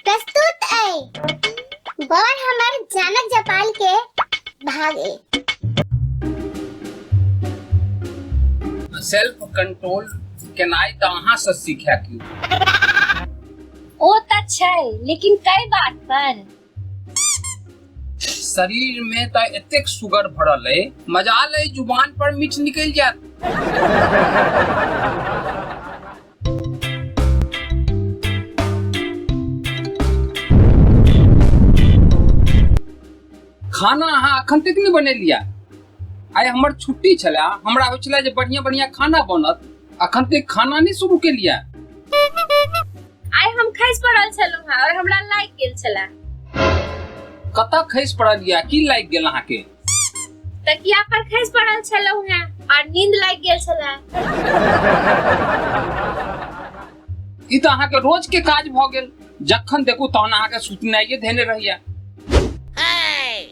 प्रस्तुत ऐ बड़ हमर जानक जपाल के भाग ए सेल्फ कंट्रोल केनाइ तऽ अहाँ से सीखै की ओ तऽ छै लेकिन कई बात पर शरीर में त एतेक सुगर भरल है मजाल है जुबान पर मीठ निकल जात खाना अहाँ अखन तक नहीं बनेलिया आइ हमर छुट्टी छला हमरा होइ छला जे बढ़िया बढ़िया खाना बनत अखन तक खाना नहीं शुरू के लिया आइ हम खसि पड़ल छलहुँ हेँ आओर हमरा लागि गेल छलए कतऽ खसि पड़ल या की लागि गेल अहाँके तकिया पर खसि पड़ल छलहुँ हेँ आओर नींद लागि गेल छलए ई तऽ अहाँके रोज के काज भऽ गेल जखन देखू तहन अहाँके सुतनाइए धेने रहैया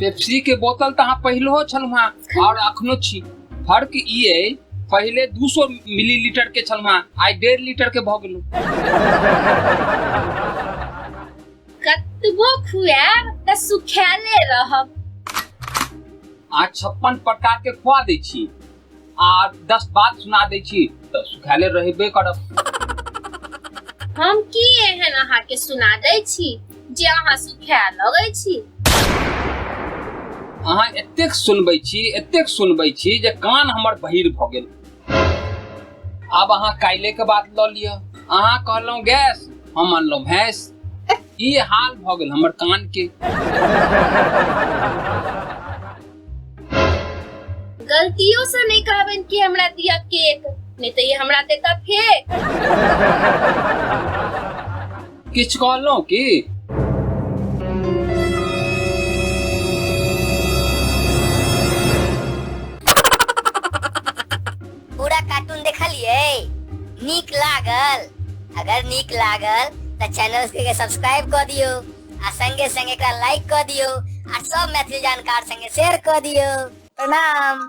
पेप्सी के बोतल तऽ अहाँ पहिलहो छलहुँ हेँ आओर अखनो छी फर्क ई अइ पहिले दू सौ मिलीलीटर के छलहुँ हेँ आइ डेढ़ लीटर के भऽ गेलहुँ कतबो खुआब तऽ सुखाले रहब अहाँ छप्पन प्रकार के खुआ दै छी आ दस बात सुना दै छी तऽ सुखाले रहबे करब हम की एहन अहाँ के सुना दै छी जे अहाँ सुखाए लगै छी अहाँ एतेक सुनबै छी एतेक सुनबै छी जे कान हमर बहिर भऽ गेल आब अहाँ काल्हि के बात लऽ लिअ अहाँ कहलहुँ गैस हम अनलहुँ भैंस ई हाल भऽ गेल हमर कान के गलतियों से नहीं कहबन कि हमरा दिया केक नहीं तो ये हमरा देता फेक किछ कहलहुँ की पूरा कार्टून देखलिए नीक लागल अगर नीक लागल तो चैनल के सब्सक्राइब कर दियो आ संगे संगे एकरा लाइक क दियो आ सब मैथिली जानकार संगे शेयर क दियो प्रणाम